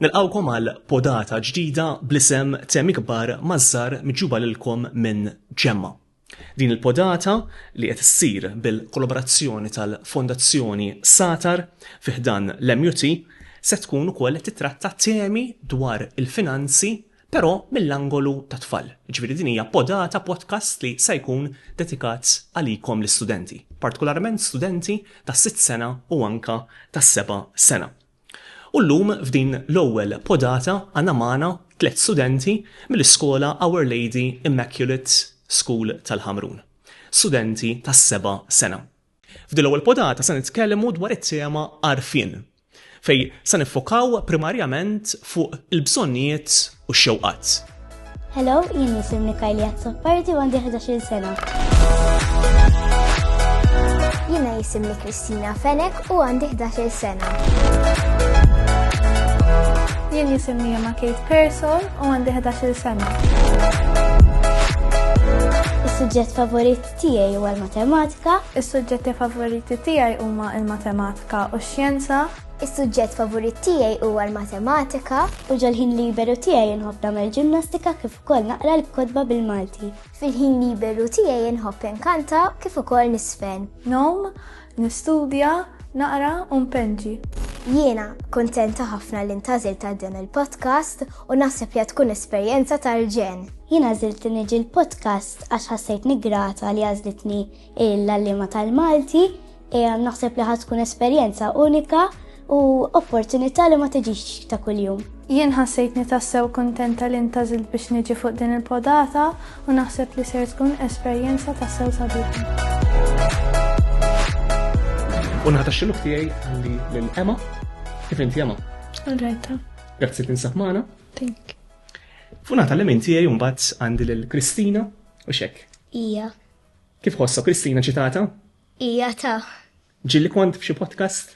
Nilqawkom għal podata ġdida bl-isem Temi Kbar Mażżar miġuba lilkom minn Ġemma. Din il-podata li qed issir bil-kollaborazzjoni tal-Fondazzjoni Satar fiħdan l-MUT se tkun ukoll qed titratta temi dwar il-finanzi Però mill-angolu tat-tfal. Jiġifieri din hija podata, podcast li se jkun dedikat għalikom l-istudenti. Partikolarment studenti tas-sitt sena u anke tas-seba' sena. U llum f'din l-ewwel podata għandna magħna tliet studenti mill-iskola Our Lady Immaculate School tal-Ħamrun. Studenti tas-seba' sena. F'din l-ewwel podata se nitkellmu dwar it-tema għarfien, fejn se niffokaw primarjament fuq il-bżonnijiet u x-xewqat. Hello, jien nisimni Kajli Azzopardi u għandi 11 sena. Jiena jisimni Kristina Fenek u għandi 11 sena. Jien jisimni Emma Kate Pearson u għandi 11 sena. Is-suġġett favorit tiegħi huwa l-matematika. Is-suġġetti favoriti tiegħi huma l-matematika u x-xjenza. Is-suġġett favorit tiegħi huwa l-matematika. U ġol-ħin liberu tiegħi nħobb nagħmel ġimnastika kif ukoll naqra l-kotba bil-Malti. Fil-ħin liberu tiegħi nħobb inkanta kif ukoll niżfen. Nowm, Nistudja, naqra u npenġi. Jiena kuntenta ħafna li ntgħażilt għal dan il-podcast u naħseb li qed tkun esperjenza tal-ġenn. Jien għażilt li niġi l-podcast għax ħassejtni grata li għażlitni l-għalliema tal-Malti. Naħseb li ħadd tkun esperjenza unika u opportunità li ma tiġix ta' kuljum. Jien ħassejtni tassew kuntenta li ntażilt biex niġi fuq din il-podata u naħseb li ser tkun esperjenza tassew sabiħa. U naħta xiluk tiegħi għandi lil Emma. Kif inti Emma? Alrajta. Grazzi li nsab magħna. Tink. Fu naħta li minn tiegħi mbagħad għandi lil Kristina u xek. Ija. Kif ħossa Kristina ċitata? Ija ta'. Ġili kont f'xi podcast?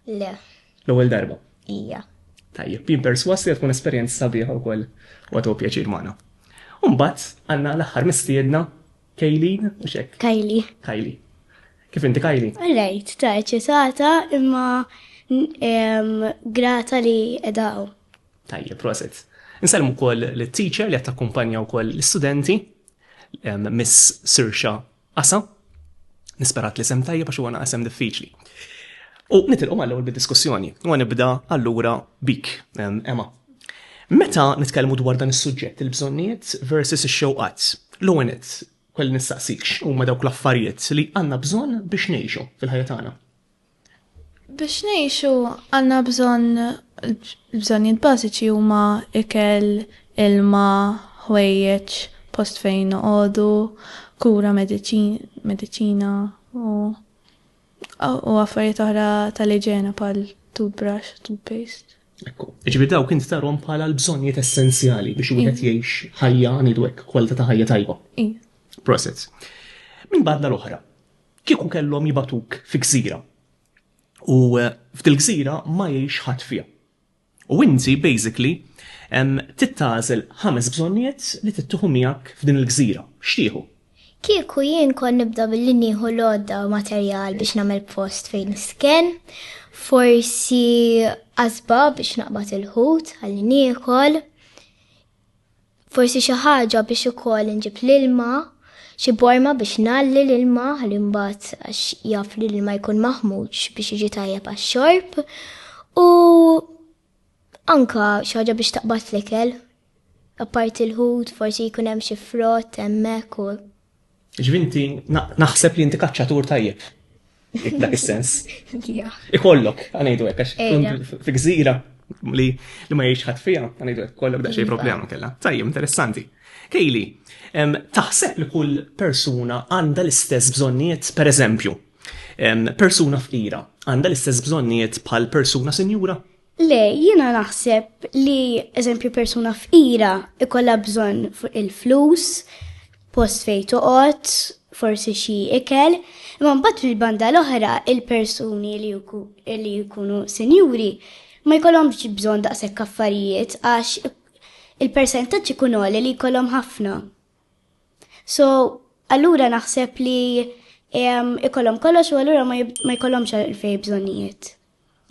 Le. L-ewwel darba? Ija. Tajjeb, jien perswas li tkun esperjenza sabiħa wkoll u għatu pjaċir magħna. Umbat, għanna l-aħħar mistiedna Kejlin u xek. Kajli. Kajli. Kif inti Kajli? Rajt, ta' eċitata imma grata li edaw. Tajjeb, proset. Nsalmu kol l-teacher li għatta kumpanja u kol l-studenti Miss Sirxa Asa, nisperat li sem tajjeb għax huwa naqas sem diffiċli. U nitilqu mal ewwel bid-diskussjoni, u nibda allura bik, Emma. Meta nitkellmu dwar dan is-suġġett il-bżonnijiet versus ix-xewqat, l-għonet kwell nistaqsik huma dawk l-affarijiet li għandna bżonn biex ngħixu fil-ħajja tagħna. Biex ngħixu għandna bżonn l-bżonnijiet bażiċi huma ikel, ilma, ħwejjeġ, post fejn noqogħdu, kura, mediċina u u affarijiet oħra tal-iġene bħal toothbrush, toothpaste. Ekku. Ġifieri dawk int tarhom bħala l-bżonnijiet essenzjali biex wieħed jgħix ħajja ngħidu hekk kwalità ta' ħajja tajba. Prosit. Minn banda l-oħra, Kieku kellhom jibagħtuk fi gżira u f'dil-gżira ma jgħix ħadd fiha. U inti basically trid tagħżel ħames bżonnijiet li trid tieħu miegħek f'din il-gżira. X'tieħu? Kieku jien kont nibda billi nieħu l-għodda u materjal biex nagħmel post fejn nisken, forsi qasba biex naqbad il-ħut għal niekol, Forsi xi ħaġa biex ukoll inġib l-ilma, xi borma biex ngħalli l-ilma ħalli mbagħad għax jaf li l-ilma jkun maħmuġ biex jiġi tajjeb għax-xorb u anka xi ħaġa biex taqbad l-ikel. Apparti l-ħut forsi jkun hemm xi frott hemmhekk u Ġifieri inti naħseb li inti kaċċatur tajjeb. Dak is-sens. Ikollok, għanejdu hekk għax fi gżira li ma jgħix ħadd fiha, għanejdu hekk kollok daqsxejn iva. problema kellha. Tajjeb, interessanti. Kejli, taħseb li kull persuna għandha l-istess bżonnijiet, per eżempju, persuna fqira għandha l-istess bżonnijiet bħal persuna sinjura? Le, jiena naħseb li eżempju persuna fqira ikolla bżonn il-flus, post fejn toqgħod, forsi xi ikel, imma mbagħad fil-banda l-oħra il-persuni li jkunu sinjuri ma jkollhomx bżonn daqshekk affarijiet għax il-persentaġġ ikun għoli li jkollhom ħafna. So, allura naħseb li ikollhom kollox u allura ma jkollhomx għalfej bżonnijiet.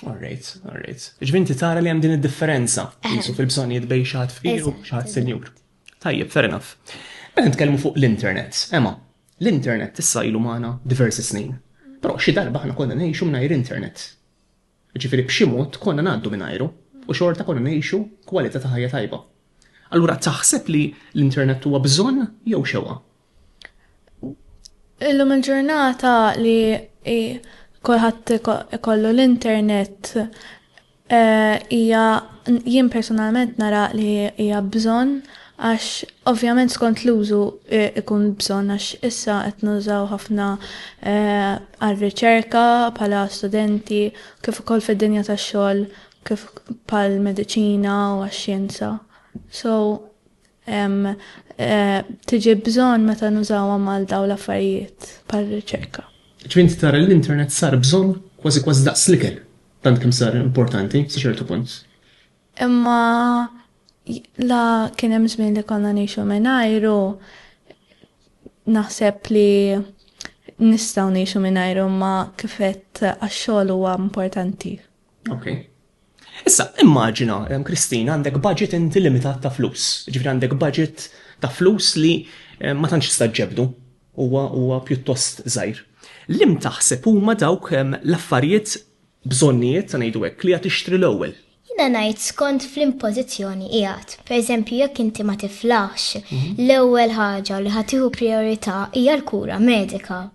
All right, all right. Ġvinti tara li hemm din id-differenza jisu fil-bżonnijiet bej xaħat fqir u xaħat senjur. Tajjeb, fair enough. Meta nitkellmu fuq l-internet, ema, l-internet issa ilu magħna diversi snin. Però xi darba aħna konna ngħixu mingħajr internet. Ġifieri b'xi mod konna ngħaddu mingħajru u xorta konna ngħixu kwalità ta' ħajja tajba. Allura taħseb li l-internet huwa bżonn jew xewqa? Illum il-ġurnata li kulħadd ikollu l-internet eh, hija jien personalment nara li hija bżonn għax ovvjament skont l-użu eh, ikun bżonn għax issa qed nużaw ħafna eh, għar-riċerka bħala studenti kif ukoll fid-dinja tax-xogħol kif bħal mediċina u għax-xjenza. So hemm tiġi bżonn meta nużawhom għal dawn l-affarijiet bħar-riċerka. Ġifieri tara li l-internet sar bżonn kważi kważi daqs l-ikel, tant kemm sar importanti sa ċertu punt. Imma la kien hemm żmien li konna ngħixu mingħajru naħseb li nistgħu ngħixu mingħajru ma kifet għax-xogħol huwa importanti. Ok. Issa, immaġina, Kristina, għandek budget inti limitat ta' flus. Ġifri għandek budget ta' flus li ma tantx tista' ġebdu huwa huwa pjuttost żgħir. Lim taħseb huma dawk l-affarijiet bżonnijiet ta' ngħidu hekk li għad tixtri l-ewwel. Jina ngħid skont fl-impożizzjoni qiegħed. Pereżempju jekk inti ma tiflaħx, mhm. l-ewwel ħaġa li ħatiħu priorità hija l-kura medika.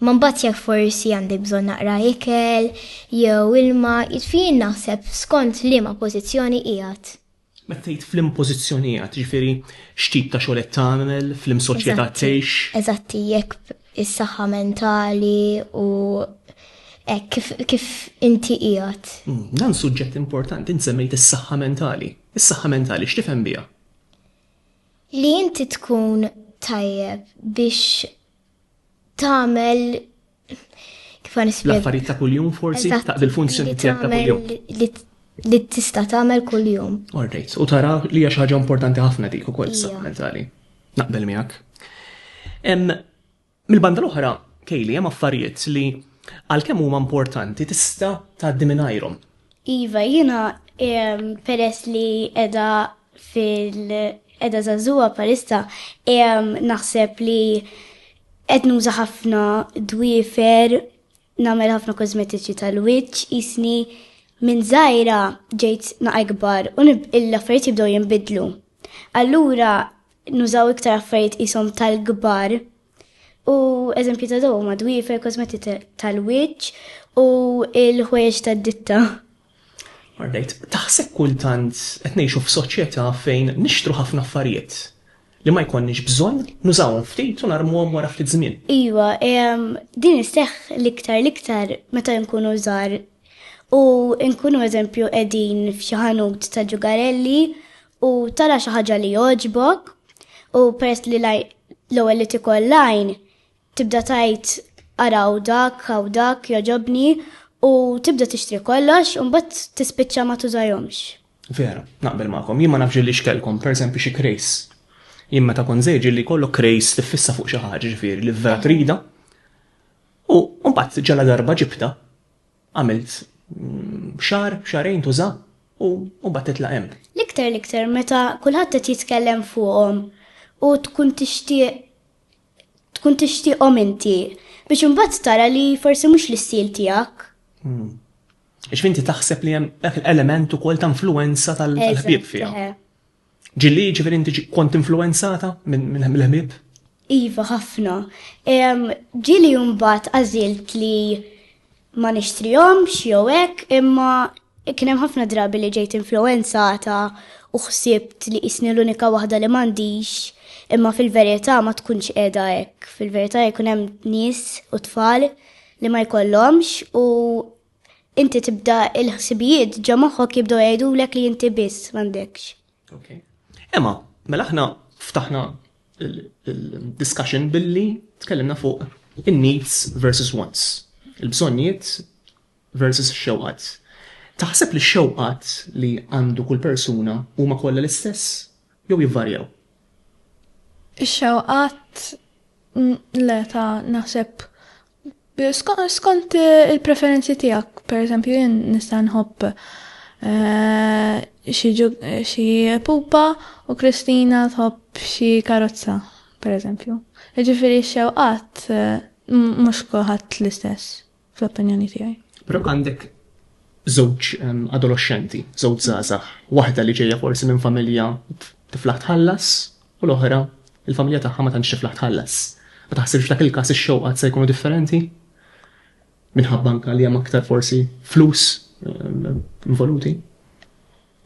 Imma mbagħad jekk forsi għandek bżonn naqra ikel jew ilma, jiġifieri jien naħseb skont liema pożizzjoni qiegħed. Meta tgħid f'liema pożizzjoni qiegħed, jiġifieri x'tip ta' xogħol qed tagħmel, f'liema soċjetà tgħix? Eżatt, jekk is-saħħa mentali u hekk kif inti qiegħed. Hmm, dan suġġett importanti, int semmejt is-saħħa mentali. Is-saħħa mentali x'tifhem biha? Li inti tkun tajjeb biex tagħmel kif nispjega. L-affarijiet ta' kuljum forsi ta' bil-funzjoni tiegħek ta' kuljum. Li tista' tagħmel kuljum. Alright, u tara li hija xi ħaġa importanti ħafna dik ukoll saħħa mentali. Naqbel miegħek. Mill-banda l-oħra, Kejli, hemm affarijiet li għalkemm huma importanti tista' tgħaddi mingħajrhom. Iva, jiena peress li qiegħda fil-qeda zazua palissa naħseb li qed nuża ħafna dwifer nagħmel ħafna kosmetiċi tal-wiċċ isni minn żgħira ġejt naqa' ikbar u l-affarijiet jibdew jinbidlu. Allura nużaw iktar affarijiet isom tal-kbar u eżempju ta' daw ma dwifer kosmetiċi tal-wiċċ u l-ħwejjeġ tad-ditta. Mar ngħid, taħseb kultant qed ngħixu f'soċjetà fejn nixtru ħafna affarijiet li ma jkollniex bżonn, nużawhom ftit u narmuhom wara ftit żmien? Iva, din isseħħ l-iktar l-iktar meta nkunu żgħar u nkunu eżempju qegħdin f'xi ħanut ta' ġugarelli u tara xi ħaġa li jogħġbok u peress li l-ewwel li tikol l-għajn Tibda tgħid ara hawn dak, hawn dak, jogħġobni u tibda tixtri kollox u mbagħad tispiċċa ma tużahomx. Vera, naqbel magħkom. Jien ma nafx ġieli x'kellkom, pereżempju xi krejs. Jien meta kont żgħir ġieli jkollok krejs tiffissa fuq xi ħaġa ġifieri li vera trida. U mbagħad ġala darba ġibta, għamilt mm, xar, xarejn tuża u mbagħad titla' hemm. L-iktar l-iktar meta kulħadd qed jitkellem fuqhom u tkun tixtieq tkun tixtieqhom inti biex imbagħad tara li forsi mhux l-istil tiegħek. Għax inti taħseb li hemm dak l-element ukoll ta' influenza tal-ħbieb fiha. Ġilli ġifieri inti kont influenzata mill-ħbieb? Iva, ħafna. Ġili mbagħad għażilt li ma nixtrihomx jew hekk imma Kien hemm ħafna drabi li ġejt influwenzata u ħsibt li qisni l-unika waħda li m'għandix, imma fil-verità ma tkunx qiegħda hekk. Fil-verità jkun hemm nies u tfal li ma jkollhomx u inti tibda il-ħsibijiet ġo moħħok jibdew jgħidulek li inti biss m'għandekx. Emma, mela aħna ftaħna il-discussion billi tkellimna fuq in-needs versus wants. Il-bżonnijiet versus ix-xewqat. Taħseb li x-xewqat li għandu kull persuna huma kollha l-istess jew jivvarjaw? Ix-xewqat le ta' naħseb skont il-preferenzi tiegħek. Pereżempju jien nista' nħobb xi pupa u Kristina tħobb xi karozza, pereżempju. Jiġifieri x-xewqat mhux kulħadd l-istess. Fl-opinjoni tiegħi. Però għandek żewġ ehm, adolescenti, żewġ żgħażagħ, waħda li ġejja forsi minn familja tiflaħ tħallas u l-oħra il-familja tagħha ma tantx tiflaħ tħallas. Ma taħsibx dak il-każ ix-xewqat se jkunu differenti? Minħabba anka li hemm aktar forsi flus ehm, involuti.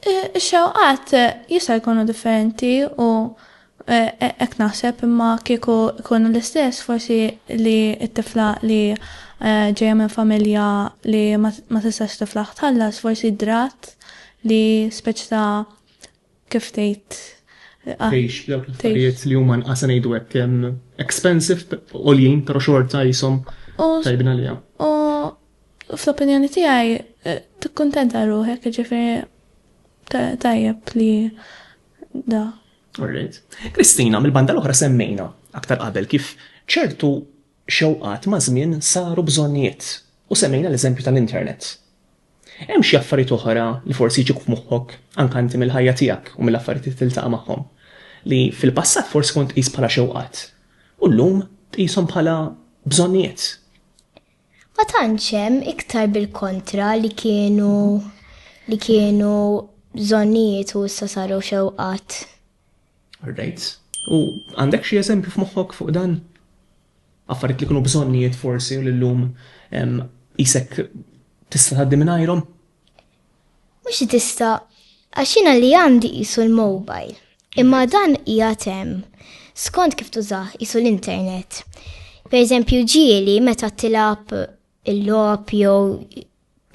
Ix-xewqat jista' jkunu differenti u hekk naħseb imma kieku jkunu l-istess forsi li t-tifla li ġejja minn familja li ma tistax tiflaħ tħallas forsi ddrat li speċi ta' kif tgħid tgħix dawk l-affarijiet li huma nqas ngħidu hekk expensive għoljin pero xorta qishom tajbin għaliha. U Fl-opinjoni tiegħi tikkuntenta ruħek, jiġifieri tajjeb li da. Alright. Kristina, mill-banda l-oħra semmejna aktar qabel kif ċertu xewqat maż-żmien saru bżonnijiet u semmejna l-eżempju tal-internet. Hemm xi affarijiet oħra li forsi jġibuk f'moħħok anke inti mill-ħajja tiegħek u mill-affarijiet li tiltaqa' magħhom li fil-passat forsi kont tqis bħala xewqat u llum tqishom bħala bżonnijiet? Ma tantx hemm, iktar bil-kontra li kienu li kienu bżonnijiet u issa saru xewqat. Alright. U għandek xi eżempju f'moħħok fuq dan? Affarijiet li kienu bżonnijiet forsi u li llum qisek tista' tgħaddi mingħajrhom? Mhux tista' għax jiena li għandi qisu l-mobile, imma dan qiegħed hemm skont kif tużah qisu l-internet. Pereżempju ġieli meta tilgħab il-logħob jew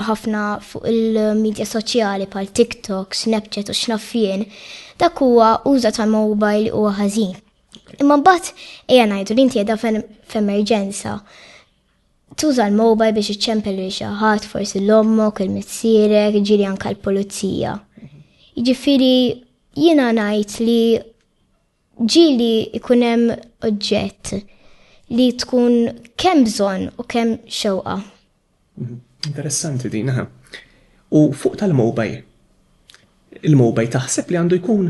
ħafna fuq il-medja soċjali bħal TikTok, Snapchat u x'naf jien, dak huwa uża tal-mobile huwa ħażin. Imma mbagħad ejja ngħidu li inti qiegħda f'emerġenza Tuża l-mobile biex iċċempel lil xi ħadd, forsi l ommok, il-missierek, ġieli anke l-pulizija. Jiġifieri jiena ngħid li ġieli ikun hemm oġġett li tkun kemm bżonn u kemm xewqa. Mhm. Interessanti din, aha. U fuq tal-mobile, il-mobile taħseb li għandu jkun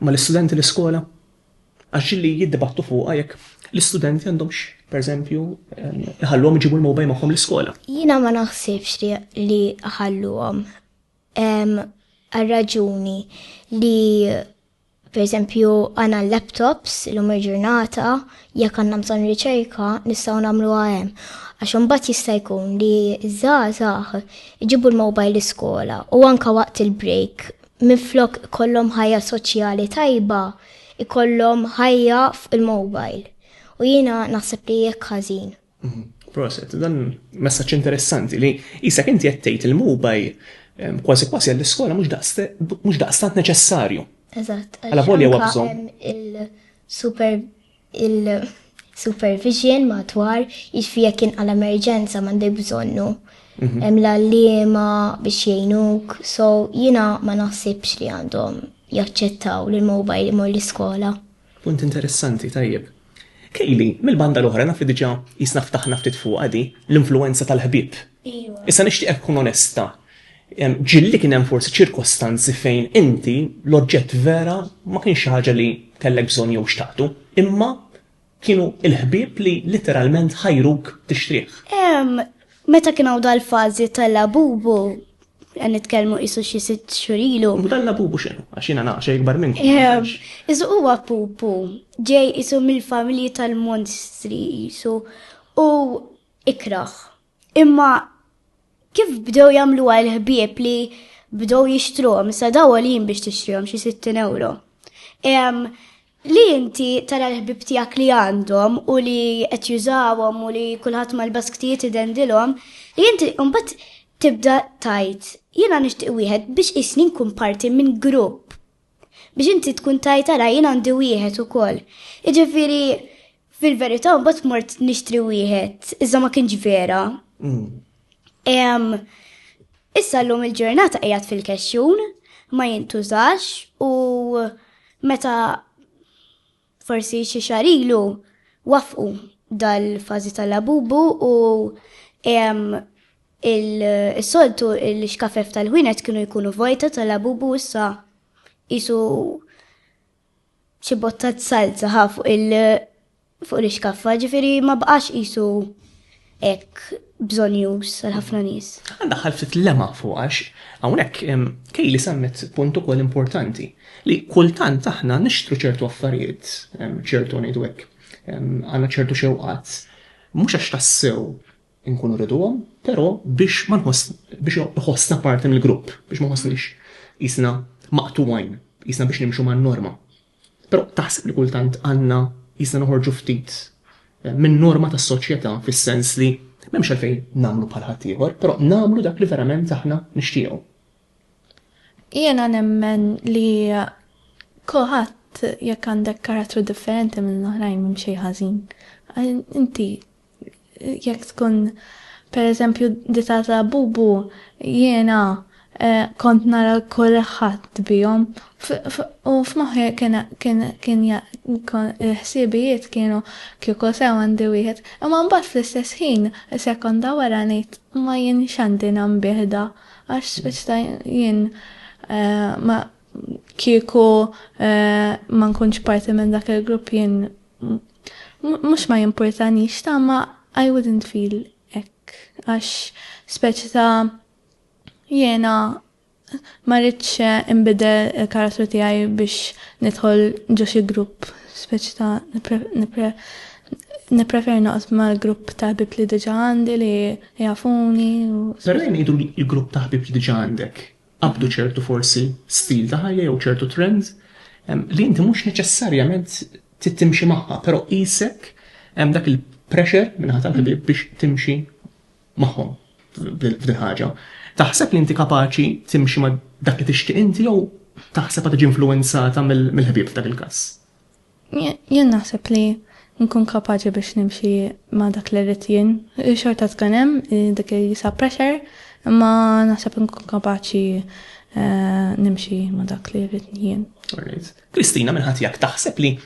mal-istudenti l-iskola? Għax li jiddibattu fuqha jekk l-istudenti għandhomx, pereżempju, iħalluhom iġibu l-mobile magħhom l-iskola. Jiena ma naħsibx li ħalluhom. Għar-raġuni li pereżempju għandna l-laptops illum il-ġurnata jekk għandna bżonn riċerka nistgħu nagħmluha hemm. Għax imbagħad jista' jkun li ż-żgħażagħ iġibu l-mobile l-iskola u anke waqt il-break minflok ikollhom ħajja soċjali tajba, ikollhom ħajja fuq il-mobile. U jiena naħseb li jekk ħażin. Mhm. Proset, dan messaċ interessanti li jisak inti jattejt il-mubaj kważi kważi għall-iskola mhux daqstant neċessarju. Eżatt. Għala volja huwa Il-super il-supervision madwar, jiġifieri jekk inqala emerġenza m'għandek bżonnu. Mhm. Hemm l-għalliema biex jgħinuk, so jiena ma naħsibx li għandhom jaċċettaw li l-mobile imur l-iskola. Punt interessanti, tajjeb. Kejli, mill-banda l-oħra naf li diġà jisna ftaħna ftit fuq għadi, l-influenza tal-ħbieb. Iva. Issa nixtieqek tkun onesta, Ġieli kien hemm forsi ċirkostanzi fejn inti l-oġġett vera ma kienx xi ħaġa li kellek bżonn jew xtaqtu, imma kienu l-ħbieb li litteralment ħajruk tixtrih. Meta kien hawn dal-fażi ta' Labubu, qed nitkellmu qisu xi sitt xhur ilu. U dan Labubu x'inhu? Għax jiena naqgħa xejn ikbar minn. Isu huwa pupu, ġej qisu mill-familji tal-monstri qisu u ikrah Imma kif bdew jagħmlu għal ħbieb li bdew jixtruhom, sa daw għoljin biex tixtrihom xi 60 euro. Li inti tara l-ħbieb tiegħek li għandhom u li qed jużawhom u li kulħadd mal-basktijiet idendilhom, li inti mbagħad tibda tgħid jiena nixtieq wieħed biex qisni nkun parti minn grupp Biex inti tkun tajt ara jien għandi wieħed ukoll. Jiġifieri fil-verità mbagħad mort nixtri wieħed, iżda ma kienx vera. Mm. Issa llum il-ġurnata qiegħed fil-kexxun, ma jintużax u meta Forsi xi xahar ilu waffqu dal-fażi ta' Labubu u is-soltu l-ixkafef tal-ħwienet kienu jkunu vojta ta' Labubu issa qisu xi bottat salza ħa fuq l-ixkaffa, ġifieri ma baqax qisu hekk bżonjuż għal ħafna nies. Daħħal ftit lema fuq għax hawnhekk Kejli semmet punt ukoll importanti li kultant aħna nixtru ċertu affarijiet, ċertu ngħidu hekk, għandna ċertu xewqat, mhux għax tassew inkunu riduhom, però biex ma nħoss biex iħossna parti mill-grupp, biex ma nħossniex jisna maqtuwajn, jisna biex nimxu man-norma. Però taħseb li kultant għandna qisna noħorġu ftit min-norma tas-soċjetà fis-sens li m'hemmx għalfejn nagħmlu bħal ħaddieħor, però nagħmlu dak li verament aħna nixtiequ? Jiena nemmen li kulħadd jekk għandek karattru differenti minn l-oħrajn m'hemm xejn ħażin. Inti Jekk tkun pereżempju ditata bubu jiena kont nara kulħadd bihom u f'moħħi kien kien il-ħsiebijiet kienu kieku sew għandi wieħed imma mbagħad fl-istess ħin sekonda wara ngħid ma jien x'għandi nambih da għax x'ta' jien ma kieku ma nkunx parti minn dak il-grupp jien Mhux ma jimpurtanix ta' ma I wouldn't feel hekk għax speċi ta' jiena ma rridx inbidel il-karattru tiegħi biex nidħol ġo xi grupp speċi ta' nippreferi noqgħod mal-grupp ta' ħbieb li diġà għandi li jafuni u. Però jien ngħidu l-grupp ta' ħbieb li diġà għandek qabdu ċertu forsi stil ta' ħajja jew ċertu trend li inti mhux neċessarjament tittimxi magħha, però qisek hemm dak il-pressure minn ħadd ħbieb biex timxi magħhom f'din ħaġa. Taħseb li inti kapaċi timxi ma' dak li tixtieq inti jew taħseb għad tiġi influwenzata mill-ħbieb f'dak il-każ? Jien naħseb li nkun kapaċi biex nimxi ma' dak li rrid jien. Xorta tkun hemm dik il-jisa pressure, imma naħseb nkun kapaċi nimxi ma' dak li rrid jien. Kristina, minn ħati jak taħseb li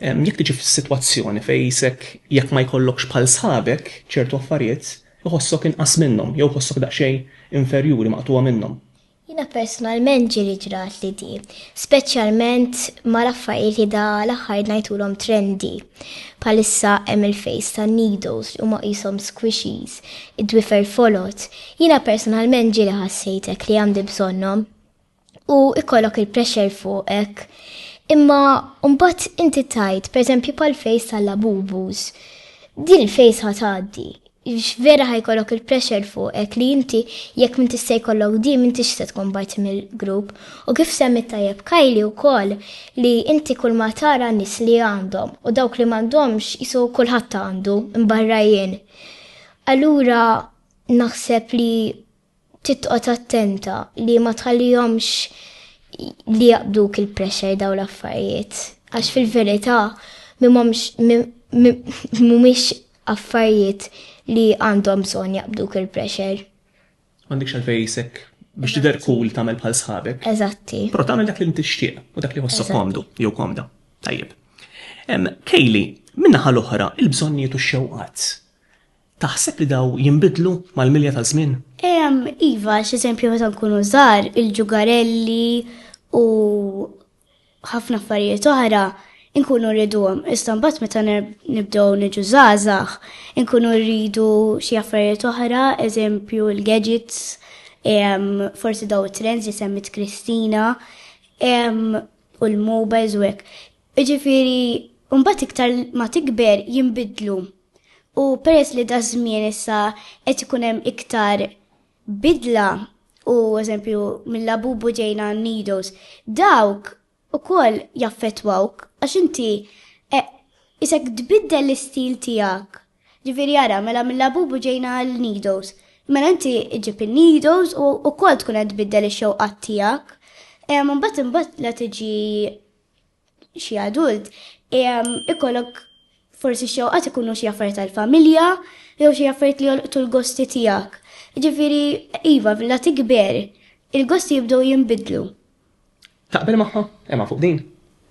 jekk tiġi f'sitwazzjoni fejn isek jekk ma jkollokx bħal sħabek ċertu affarijiet, iħossok inqas minnhom jew iħossok daqsxejn inferjuri, maqtugħa minnhom? Jiena personalment ġieli ġrat li di, speċjalment ma' l-affarijiet li da l-aħħar ngħidulhom trendy. Bħalissa hemm il-face ta' needles li huma qishom squishies, id-dwifer folot. Jiena personalment ġieli ħassejt hekk li għandi bżonnhom. U ikollok il-pressure fuqek. Imma mbagħad inti tgħid, per eżempju bħall-face tal-Labubus. Din il-face ħa tgħaddi. Għax vera ħa jkollok il-pressure fuqek li inti jekk m'intix se jkollok di m'intix se tkun parti mill-grupp. U kif semmiet tajjeb Kylie wkoll li inti kulma tara n-nies li għandhom u dawk li m'għandhomx qisu kulħadd għandu, imbarra jien. Allura naħseb li Trid toqgħod attenta li ma tħallihomx li jaqbduk il-pressure dawn l-affarijiet. Għax fil-verità mhumiex affarijiet li għandhom bżonn jaqbduk il-pressure. M'għandekx għalfejn qisek biex tidher cool tagħmel bħal sħabek. Eżatti. Però tagħmel dak li int tixtieq u dak li jħossok komdu jew komda. Tajjeb. Kaylee, min-naħa l-oħra, il-bżonnijiet u x-xewqat. Taħseb li dawn jinbidlu mal-milja taż-żmien? Ehm, iva, għax eżempju meta nkunu żgħar, il-ġugarelli u ħafna affarijiet oħra inkunu rriduhom. Issa mbagħad meta nibdew niġu żgħażagħ, inkunu rridu xi affarijiet oħra, eżempju l-gadgets, ehm, forsi daw it-trends li semmit Kristina, ehm, u l-mobiles u hekk. Jiġifieri mbagħad iktar ma tikber jinbidlu. U peress li daż-żmien issa qed ikun hemm iktar bidla u eżempju mil-Labubu ġejna Nidos, dawk ukoll jaffettwawk għax inti qisek tbiddel l-istil tiegħek. Ġifieri ara, mela mil-Labubu ġejna għal Nidos. Mela inti ġġib in-Nidos u ukoll tkun qed tbiddel ix-xewqat tiegħek. Mbagħad imbagħad la tiġi xi adult, ikollok forsi xewqat ikunu xi affarijiet tal-familja jew xi affarijiet li jolqtu l-gosti tiegħek. Ġifieri, iva, la tikber, il-gosti jibdew jinbidlu. Taqbel magħha, Emma, fuq din?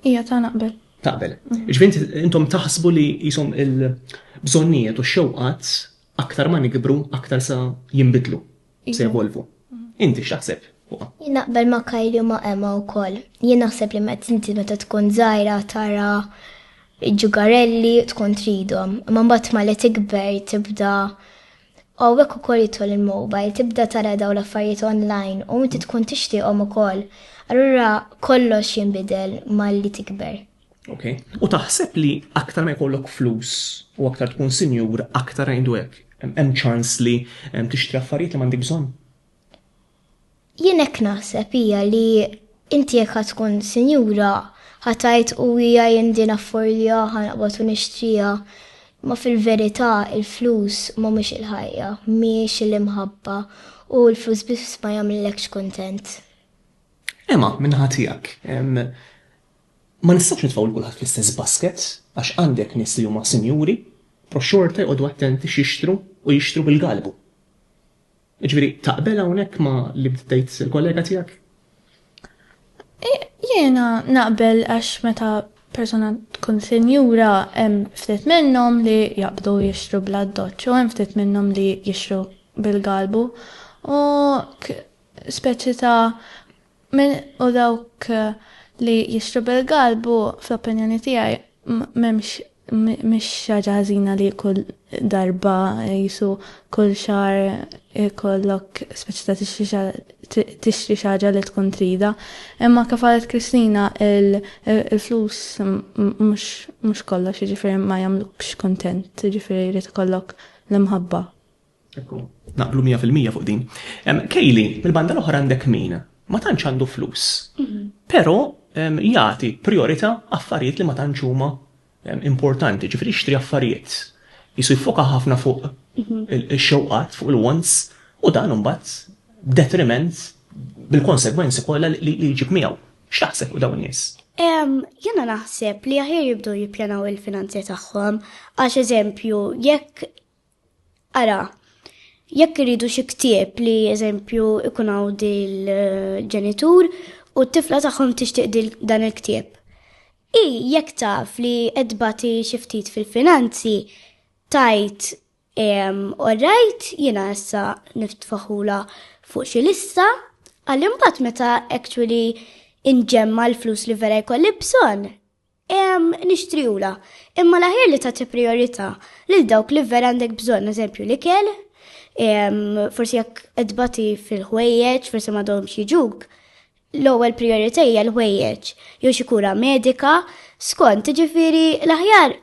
Iva, ta' naqbel. Taqbel. Ġifieri intom taħsbu li qishom il-bżonnijiet u x-xewqat aktar ma nikbru aktar sa jinbidlu. se jevolvu. Inti x'taħseb? Jien naqbel ma' Kylie u ma' Emma wkoll. Jien naħseb li meta inti meta tkun żgħira tara ġugarelli tkun tridhom, imma mbagħad mali tikber tibda u hekk ukoll jidħol il-mobile, tibda tara dawn l-affarijiet online u inti tkun tixtieqhom ukoll. Allura kollox jinbidel malli tikber. Okay. U taħseb li aktar ma jkollok flus u aktar tkun sinjur, aktar għajdu hekk. Hemm ċans li tixtri affarijiet li m'għandek bżonn. Jien hekk naħseb hija li inti jekk ħad tkun sinjura ħatajt u hija jindi naffordja ħanqbad u nixtrija. Ma fil-verità il-flus ma mhux il-ħajja, mhix il-imħabba u l-flus biss ma jagħmlilekx kontent. Ema, minn ħatijak, Ma nistgħux nitfgħu lil kulħadd fl-istess basket għax għandek nies li huma sinjuri però xorta jqogħdu attenti x'jixtru u jixtru bil-galbu. Jiġifieri taqbel hawnhekk ma' li bdiet tgħid il-kollega tiegħek? Jiena naqbel għax meta persuna tkun sinjura hemm ftit minnhom li jaqbdu jixtru bl-addoċċ u hemm ftit minnhom li jixtru bil-galbu u k speċi ta' Min hu dawk li jixtru bil-galb u, fl-opinjoni tiegħi, m'hemmx mhix xi ħaġa ħażina li kull darba qisu kull xahar ikollok speċi ta' tixtri xi ħaġa li tkun tridha. Imma kif qalet Kristina il-flus mhux kollox jiġifieri ma jagħmlukx kuntent jiġifieri jrid ikollok l-imħabba. Naqblu mija fil-mija fuq din. Kejli, mill-banda l-oħra għandek min ma tantx għandu flus, mhm. però jagħti priorità affarijiet li ma tantx huma importanti, ġifieri jixtri affarijiet. Jisu jfoka ħafna fuq mhm. il-xewqat, fuq il-wants, u dan imbagħad detriment bil-konsegwenzi kollha li jġib miegħu. X'taħseb u dawn nies? Jena naħseb li aħjar jibdu jippjanaw il-finanzi tagħhom għax eżempju jekk Ara, jekk iridu xi ktieb li eżempju ikun hawn dil-ġenitur u t-tifla tagħhom tixtieq dan il-ktieb. I jekk taf li qed bati xi ftit fil-finanzi, tajt orrajt jiena issa niftfaħula fuq xi lista, għal imbagħad meta actually inġemma l-flus li vera jkolli bżonn, Ehm, nixtriulha, imma l-aħjar li tagħti prijorità lil dawk li vera għandek bżonn, eżempju l-ikel, ehm, forsi jekk qed tbati fil-ħwejjeġ, forsi m'għadhomx jiġuk, l-ewwel prijorità hija l-ħwejjeġ, jew xi kura medika, skont, ġifieri l-aħjar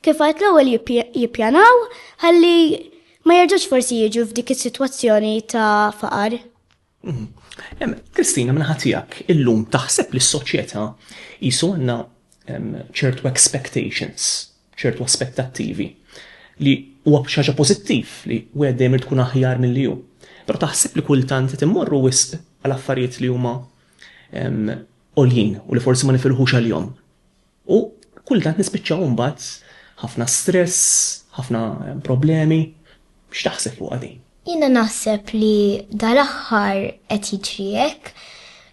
kif għedt l-ewwel jippjanaw ħalli ma jerġgħux forsi jiġu f'dik is-sitwazzjoni ta' faqar. Kristina, minn ħatijak, illum taħseb li s-soċjetà jisu għanna ċertu expectations, ċertu aspettattivi li huwa xaġa pożittiv li u għeddejm tkun aħjar mill-li ju. Pero taħseb li kultant qed immorru wisq għal affarijiet li huma oljin u li forsi ma nifilħux għal-jom. U kultant nispiċċaw imbagħad ħafna stress, ħafna problemi. X'taħseb fuqha din? Jiena naħseb li dal-aħħar qed jiġri hekk,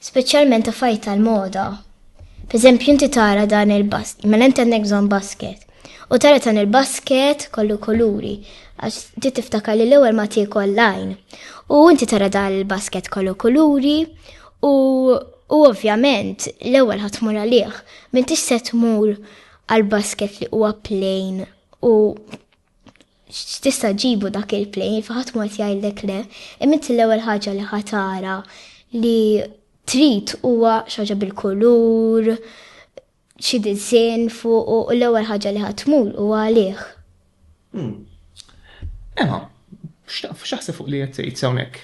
speċjalment affarijiet tal-moda. Pereżempju inti tara dan il-basket, mela inti għandek bżonn basket. U tara dan il-basket kollu kuluri, għax ti tiftakar li l-ewwel ma tiekol lajn. U inti tara dan il-basket kollu kuluri u U ovvjament, l-ewwel ħa tmur għalih, m'intix se tmur għal basket li huwa plejn u x'tista' ġibu dak il-plejn, faħat mod jgħidlek le, imint l-ewwel ħaġa li ħatara li trid huwa xaġa bil-kulur, xi disinn fuq u l-ewwel ħaġa li ħadd tmur huwa għalih. Emma, x'taħseb fuq li qed tgħid hawnhekk?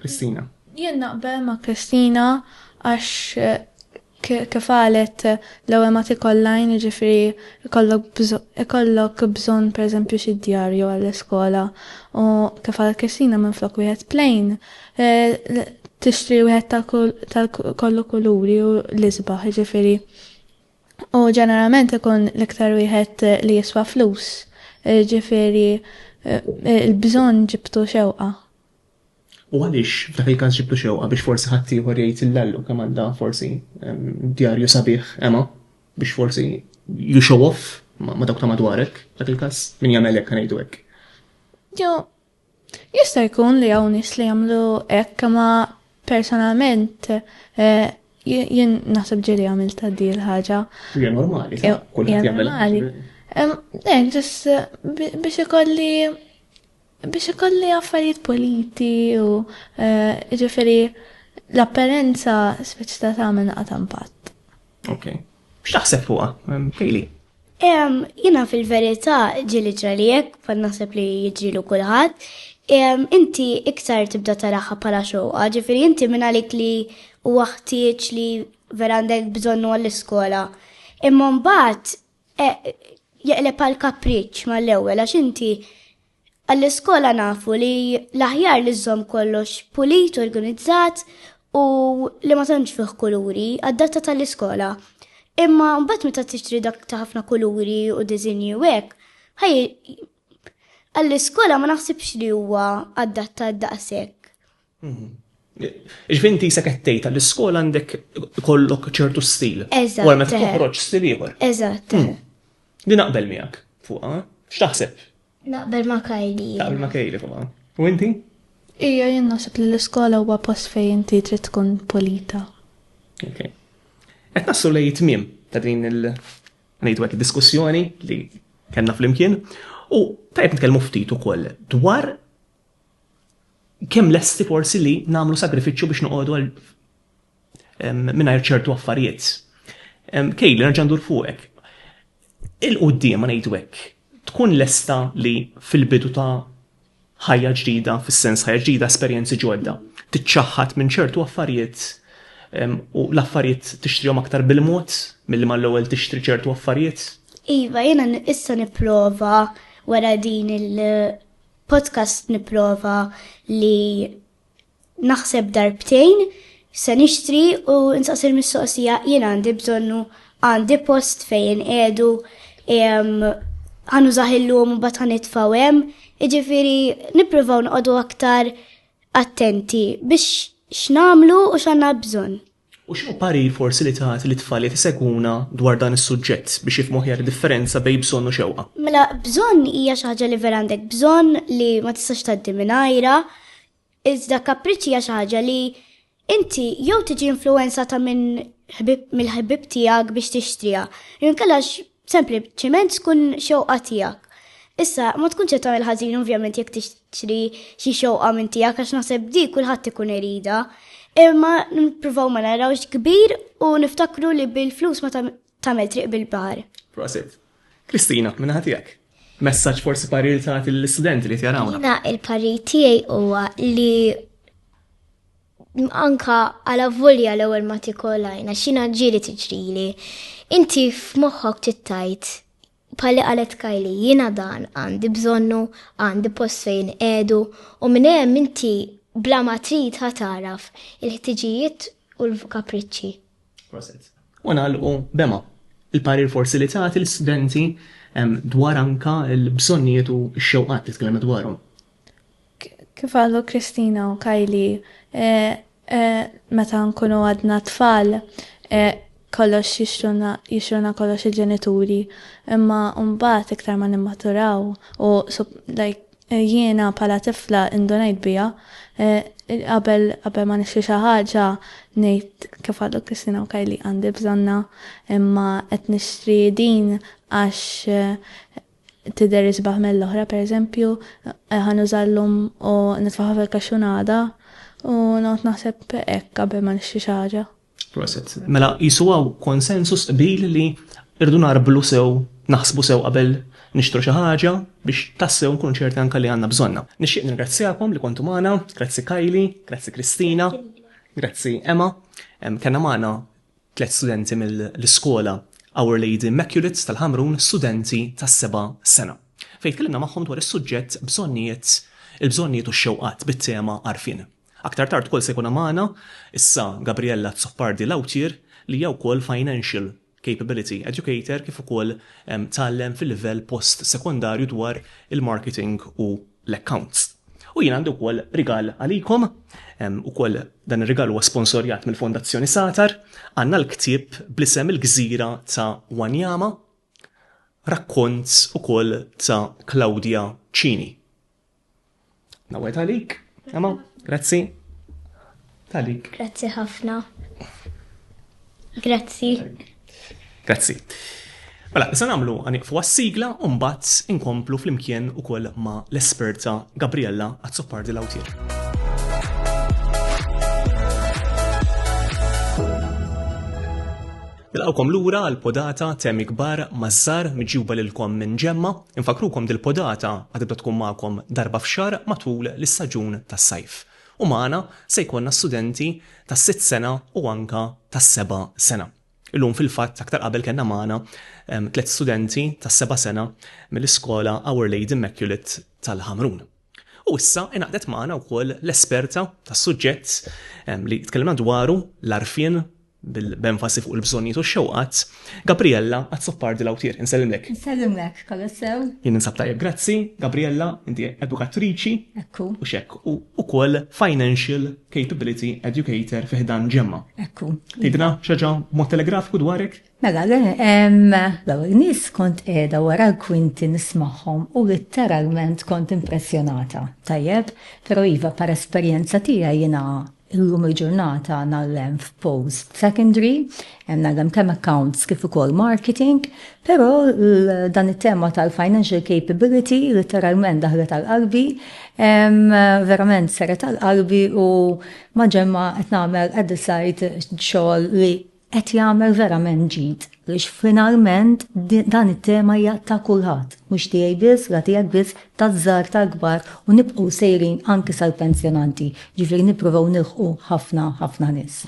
Kristina. Jien naqbel ma' Kristina għax kif qalet l-ewwel ma tikollajn jiġifieri ikollok bżonn pereżempju xi djarju għall-iskola u kif qalet Kristina minflok wieħed plain tixtri wieħed tal-kollu kuluri u l-isbaħ, ġifiri. U ġeneralment ikun l-iktar wieħed li jiswa flus, ġifiri il-bżon ġibtu xewqa. U għaliex f'dak il-każ ġibtu xewqa biex forsi ħaddieħor jgħid il-lallu kemm għandha forsi djarju sabiħ Emma biex forsi you show off ma' dawk ta' madwarek, f'dak il-każ min jagħmel hekk ngħidu hekk. Jo, Jista' jkun li hawn nies li jagħmlu hekk ma personalment eh, jien naħseb ġieli għamil ta' di l-ħaġa. Hija normali, eh, kulħadd jagħmel. Normali. Eh, ġis biex ikolli biex ikolli affarijiet politi u ġifieri l-apparenza speċi ta' tagħmel naqta' impatt. Ok. X'taħseb fuqha, Kejli? Jina fil-verità ġili ġrali jekk fan naħseb li jiġrilu kulħadd. Inti iktar tibda taraħħa bħala xoqa, ġifieri inti minn għalik li huwa ħtieġ li vera għandek bżonnu għall-iskola. Imma mbagħad e, jeqleb għal kapriċċ mal-ewwel għax inti Għall-iskola nafu li l-aħjar li żżomm kollox pulit, organizzat u li ma tantx fih kuluri, adatta tal-iskola. Imma mbagħad meta tixtri dak ta' ħafna kuluri u diżinji u hekk, ħaj għall-iskola ma naħsibx li huwa adatta daqshekk. Ġifi inti jisek qed tgħid għall-iskola għandek ikollok ċertu stil. Eżatt. Wara meta toħroġ stil ieħor. Eżatt. Hmm. Li naqbel miegħek fuqha, x'taħseb? Naqbel ma' Kajli. Naqbel ma' Kajli fuqha. U inti? Ija jien naħseb li l-iskola huwa post fejn inti trid tkun polita. Ok. Qed nassu lej tmiem ta' din il- ngħidu hekk diskussjoni li kellna flimkien u tajb nitkellmu ftit ukoll dwar kemm lesti forsi li nagħmlu sagrifiċċju biex noqogħdu għal mingħajr ċertu affarijiet. Kejli, nerġa' ndur fuqek. Il-qudiem ngħidu hekk, tkun lesta li fil-bidu ta' ħajja ġdida, fis-sens ħajja ġdida, esperjenzi ġodda, tiċċaħħad minn ċertu affarijiet u l-affarijiet tixtrihom aktar bil-mod milli mal-ewwel tixtri ċertu affarijiet. Iva, jiena issa nipprova wara din il- podcast nipprova li naħseb darbtejn se nixtri u nsaqsi l-mistoqsija jien għandi bżonnu għandi post fejn qiegħdu ħanu zaħillum u bat ħanitfaw hemm, iġifieri nippruvaw noqogħdu aktar attenti biex x'namlu u x'għandna bżonn. U x'inhu parir forsi li tagħti lit-tfal qed isegwuna dwar dan is-suġġett biex jifhmu aħjar id-differenza bejn bżonn u xewqa? Mela bżonn hija xi ħaġa li vera għandek bżonn li ma tistax tgħaddi mingħajrha, iżda kapriċċ hija xi ħaġa li inti jew tiġi influwenzata minn ħbieb mill-ħbieb tiegħek biex tixtriha, jew inkella Sempliċiment tkun xewqa tiegħek. Issa, ma tkunx qed tagħmel ħażin ovvjament jekk tixtri xi xewqa minn tiegħek għax naħseb dik kulħadd ikun iridha. Imma nippruvaw ma narawx kbir u niftakru li bil-flus ma tagħmel triq bil-baħar. Prosit. Kristina, minnaħa tiegħek. Messaġġ forsi parir tagħti lill-istudenti li tjarawna. Jiena il-parir tiegħi huwa li Anka għala volja l-ewwel ma tikolajna xina ġieli tiġrili. Inti f'moħħok tittajt pali qalet Kajli jiena dan għandi bżonnu, għandi post fejn edu u minn hemm inti bla ma trid ħataraf il-ħtiġijiet u l-kapriċċi. Proset. U nagħlqu b'ema. Il-parir forsi li tagħti l-istudenti dwar anka l-bżonnijiet u x-xewqat li tkellimna dwarhom. Kif qalu Christina u Kylie, meta nkunu għadna tfal kollox jixtruna jixtruna kollox il-ġenituri, imma mbagħad iktar ma nimmaturaw u like jiena bħala tifla indunajt biha qabel qabel ma nixtri xi ħaġa ngħid kif qalu Christina u Kylie għandi bżonnha imma qed nixtri din għax tidher isbaħ mill-oħra, pereżempju, ħa nuża llum u nitfa' ħafa l-kaxxun għada, u noqgħod naħseb hekk qabel ma nixtri xi ħaġa. Proset. Mela qisu hawn konsensus, qbil, li rridu ngħarblu sew, naħsbu sew qabel nixtru xi ħaġa biex tassew nkunu ċerti anke li għandna bżonnha. Nixtieq nirringrazzjakom li kontu magħna, grazzi Kylie, grazzi Christina, grazzi Emma. Kellna magħna Tliet studenti mill-iskola Our Lady Immaculate tal-Ħamrun, studenti tas-seba' sena, fejn tkellimna magħhom dwar is-suġġett Bżonnijiet, il-bżonnijiet u x-xewqat bit-tema Għarfien. Aktar tard ukoll se jkun magħna issa Gabriella Azzopardi Lautier li hija wkoll Financial Capability Educator kif ukoll tgħallem fil-livell post-sekondarju dwar il-marketing u l-accounts. U jien għandi wkoll rigal għalikom, ukoll dan ir-rigal huwa sponsorjat mill-Fondazzjoni Satar, għandna l-ktieb bl-isem Il-Gżira ta' Wanyama, rakkont ukoll ta' Claudia Cini. Nawgħed għalik, Emma, grazzi. Talik. Grazzi ħafna. Grazzi. Grazzi. Mela, se nagħmlu għaniqfu għas-sigla u mbagħad inkomplu flimkien ukoll ma' l-esperta Gabriella Azzopardi Lawtier. Nilqawkom lura għal podata temi kbar mażżar miġjuba lilkom minn ġemma, infakrukom dil-podata għad tkun magħkom darba f'xar matul l-istaġun tas-sajf. U magħna se jkollna studenti tas-sitt sena u anke tas-seba' sena. Illum fil-fatt aktar qabel kellna magħna tliet studenti tas-seba' sena mill-iskola Our Lady Immaculate tal-Ħamrun. U issa ingħaqdet magħna wkoll l-esperta tas-suġġett li tkellimna dwaru, l-għarfien, b'enfasi fuq il-bżonnijiet u x-xewqat, Gabriella Azzopardi Lautier. Insellimlek. Insellimlek, kollox sew? Jien ninsab tajjeb, grazzi. Gabriella, inti edukatriċi. Ekku. U x'hekk, u wkoll Financial Capability Educator fi ħdan Gemma. Ekku. Tgħidilna xi ħaġa b'mod telegrafiku dwarek? Mela, l-ewwel nies kont qiegħda wara l-kwinti nismagħhom u litteralment kont impressjonata. Tajjeb, però iva, bħala esperjenza tiegħi jiena Illum il-ġurnata ngħallem f'post secondary, ngħallem kemm accounts kif ukoll marketing, però dan it-tema tal-financial capability litteralment daħlet għal qalbi, verament seret għal qalbi u ma' Ġemma qed nagħmel at the side xogħol li Qed jagħmel verament ġid għaliex finalment dan it-tema hija ta' kulħadd, mhux tiegħi biss, la tiegħek biss, taż-żgħar, tal-kbar u nibqgħu sejrin anki sal-pensjonanti, jiġifieri nippruvaw nilħqu ħafna, ħafna nies.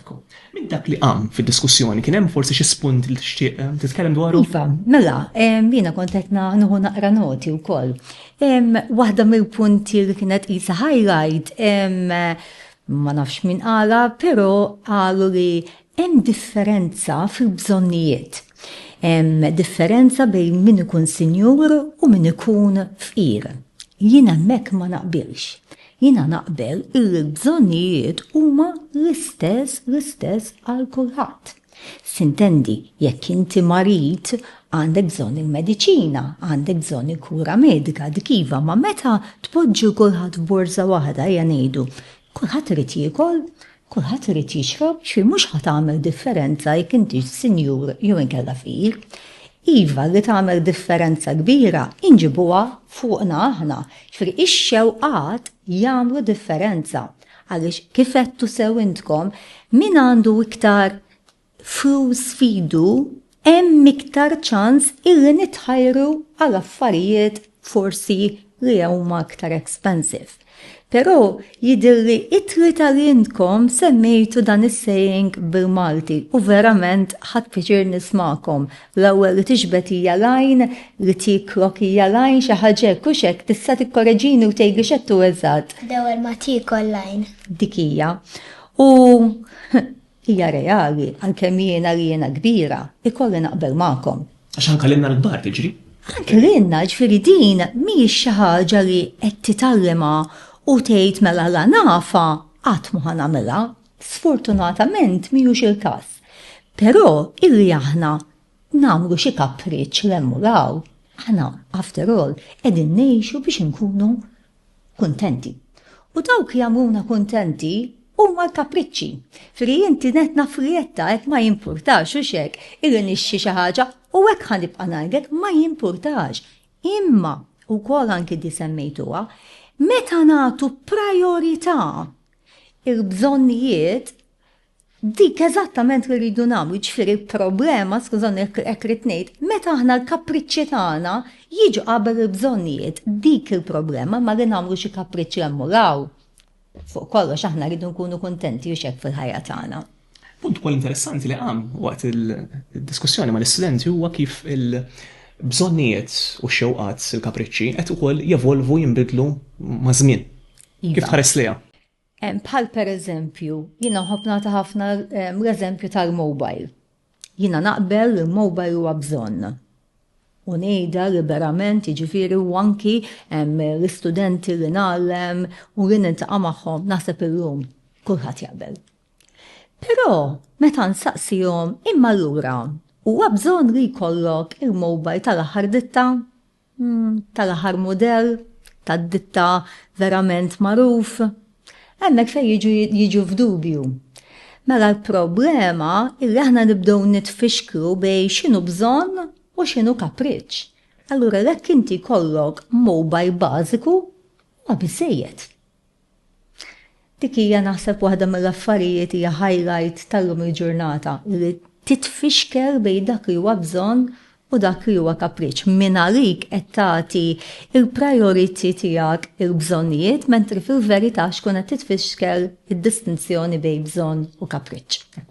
Minn dak li qam fid-diskussjoni kien hemm forsi xi spunt li tixtieq titkellem dwaru? Iva, mela, jiena kont qed nieħu naqra noti wkoll. Waħda mill-punti li kienet qisha highlight Ma nafx min qalha, però qalu li hemm differenza fil-bżonnijiet. Hemm differenza bejn min ikun sinjur u min ikun fqir. Jien hemmhekk ma naqbilx. Jiena naqbel illi l-bżonnijiet huma l-istess l-istess għal kulħadd. Sintendi, jekk inti marid, għandek bżonn il-mediċina, għandek bżonn il-kura medika, dik iva, imma meta tpoġġi 'l kulħadd f'borża waħda, ejja ngħidu, kulħadd irid jiekol, kulħadd irid jixrob, jiġifieri mhux ħa tagħmel differenza jekk intix sinjur jew inkella fqir. Iva, li tagħmel differenza kbira hi nġibuha fuqna aħna, jiġifieri x-xewqat jagħmlu differenza. Għaliex, kif għedtu sew intkom, min għandu iktar flus f'idu hemm iktar ċans illi nitħajru għal affarijiet forsi li huma iktar expensive. Però jidhirli it-tlieta li intkom semmejtu dan is-saying bil-Malti u verament ħadt piċir nismagħkom L-ewwel li tiġbed hija l-għajn, li tieklok hija l-għajn, xi ħaġa hekk, hux hekk? Tista' tikkoreġini u tgħidli x'qed tgħu eżatt? L-ewwel ma tiekol l-għajn. Dik hija. U hija reali, għalkemm jiena li jiena kbira, ikolli naqbel magħkom. Għax anke lilna l-kbar tiġri. Anke lilna, ġifieri din mhijiex xi ħaġa li qed titgħallimha u tgħid mela la nafha qatt mhu ħa nagħmilha. Sfortunatament mhijiex il-każ. Però illi aħna nagħmlu xi kapriċċ 'l hemm u 'l hawn, aħna after all qegħdin ngħixu biex inkunu kuntenti. U dawk li jagħmluna kuntenti huma l-kapriċċi. Fri inti nett naf li qed tgħid ma jimpurtax, hux hekk, illi nixtri xi ħaġa, u hekk ħa nibqa' ngħidlek ma jimpurtax. Imma, ukoll anki di semmejtuha, meta nagħtu prajorità il-bżonnijiet, dik eżattament li rridu nagħmlu, ġifieri problema, skużani hekk rrid ngħid, meta aħna l-kapriċċi tagħna jiġu qabel il-bżonnijiet, dik il-problema ma li nagħmlu xi kapriċċi hemm u l-hawn. Fuq kollox aħna rridu nkunu kuntenti u x'hekk fil-ħajja tagħna. Punt ukoll interessanti li qam waqt il-diskussjoni mal-istudenti huwa kif il- bżonnijiet u xewqat il-kapriċċi qed ukoll jevolvu jinbidlu maż-żmien. Iva. Kif tħares liha? Bħal per eżempju, jina ħobna ta' ħafna l-eżempju tal-mobile. Jina naqbel li l-mobile huwa bżonn. U nejda liberament, ġifiri, u anki l-istudenti li nallem u li nintaqa magħhom naħseb illum kulħadd jaqbel. Però meta nsaqsihom imma lura huwa bżonn li jkollok il-mobile tal-aħħar ditta? tal-aħħar mudell tad-ditta verament magħruf, hemmhekk fejn jiġu jiġu f'dubju. Mela l-problema illi aħna nibdew nitfixklu bejn x'inhu bżonn u x'inhu kapriċċ. Allura jekk inti jkollok mobile bażiku huwa biżżejjed. Dik hija naħseb waħda mill-affarijiet hija highlight tal-lum il-ġurnata, li titfixkel bejn dak li huwa bżonn u dak li huwa kapriċċ. Mingħalik qed tagħti l-priority tiegħek il-bżonnijiet mentri fil-verità xkun qed titfixkel id-distinzjoni bejn bżonn u kapriċċ.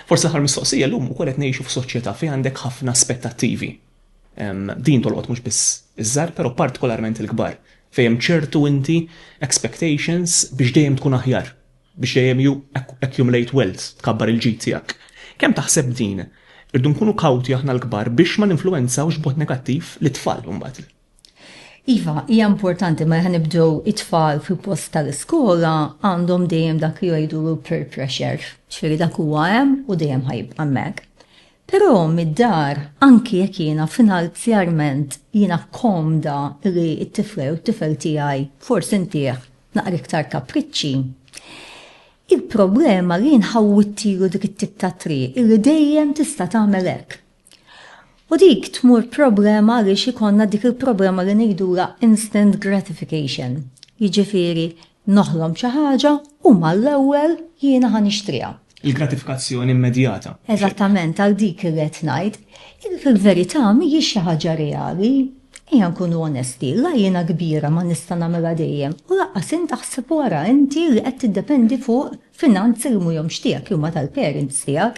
Forsi l-aħħar mistoqsija, llum ukoll qed ngħixu f'soċjetà fejn għandek ħafna aspettattivi. Din tolqot mhux biss iż-żgħar, però partikolarment il-kbar, fejn hemm ċertu inti expectations biex dejjem tkun aħjar, biex dejjem you accumulate wealth, tkabbar il-ġid tiegħek. Kemm taħseb din? Irridu nkunu kawti aħna l-kbar biex ma ninfluwenzawx b'mod negattiv lit-tfal imbagħad. Iva, hija importanti ma ħanibdew it-tfal fil-post tal-iskola għandhom dejjem dak li jgħidulu peer pressure, ġifieri dak huwa hemm u dejjem ħajibqa' hemmhekk. Però mid-dar, anki jekk jiena finanzjarment jiena komda li t-tifla jew it-tifel tiegħi forsi ntih naqra iktar kapriċċi, il-problema li jien ħawwidtilu dik it-tip ta' triq illi dejjem tista' tagħmel hekk. U dik tmur problema għaliex ikonna dik il-problema li ngħidula instant gratification. Jiġifieri noħlom xi ħaġa u mal-ewwel jiena ħa nixtriha. Il-gratifikazzjoni immedjata. Eżattament, għal dik irrid ngħid. Fil-verità mhijiex xi ħaġa reali. Ejja nkunu onesti, la jiena kbira ma nista' nagħmilha dejjem u lanqas int aħseb wara inti li qed tiddependi fuq Finanz irmuhomx tiegħek huma tal-parents tiegħek.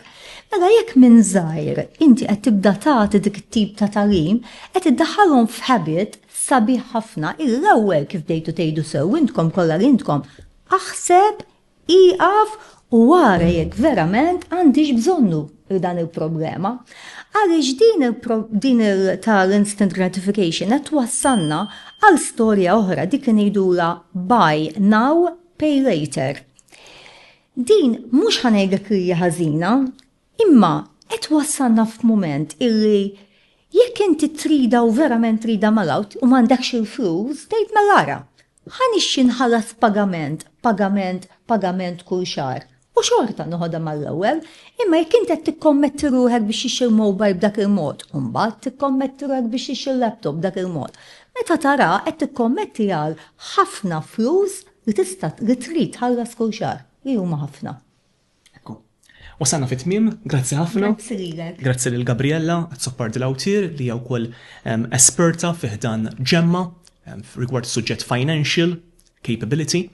Mela jekk minn żgħir inti qed tibda tagħti dik it-tip ta' tagħlim, qed iddaħħalhom f'habit sabiħ ħafna, il-ewwel kif bdejtu tgħidu sew intkom kollha li intkom, aħseb, ieqaf u ara jekk verament għandix bżonnu dan il-problema. Għaliex din din tal-instant gratification qed twassalna għal storja oħra dik li ngħidula buy now, Pay later. Din mhux ħa ngħidlek li hija ħażina, imma qed twassalna f'mument illi jekk inti trida u verament trida mela u m'għandekx il-flus, tgħid mela ara, ħa nixxi nħallas pagament, pagament, pagament kull xahar. U xorta noħodha mal-ewwel, imma jekk int qed tikkommetti ruħek biex tixtri mobile b'dak il-mod, u mbagħad tikkommetti ruħek biex tixtri laptop b'dak il-mod, meta taraha qed tikkommetti għal ħafna flus li tista' li trid tħallas kull xahar, li huma ħafna. Ekku. Wasalna fit-tmiem, grazzi ħafna. Grazzi lilek. Grazzi lil Gabriella Azzopardi di Lautier li hija wkoll esperta fi ħdan Gemma rigward suġġett financial capability,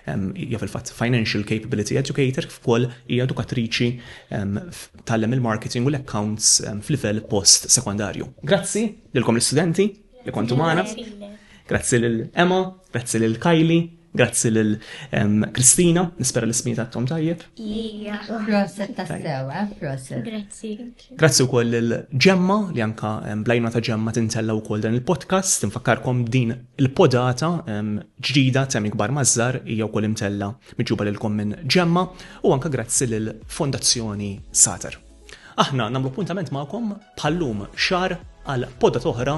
hija fil-fatt financial capability educator kif ukoll hija edukatriċi tgħallem il-marketing u l-accounts f'livell post sekondarju. Grazzi lilkom l-istudenti li kontu magħna. Grazzi lil Emma, grazzi lil Kylie, Grazzi lil Kristina, nispera l-ismijiet għattom tajjeb. Ija, proset tassewa, eh, proset. Grazzi. Grazzi wkoll lil Ġemma li anka blajna ta' Ġemma tintella wkoll dan il-podcast. Tinfakkarkom din il-podata ġdida Temi Kbar Mażżar hija wkoll imtella miġuba lilkom minn Ġemma u anka grazzi lil Fondazzjoni Sater. Aħna nagħmlu appuntament magħkom bħallum xar għal podat oħra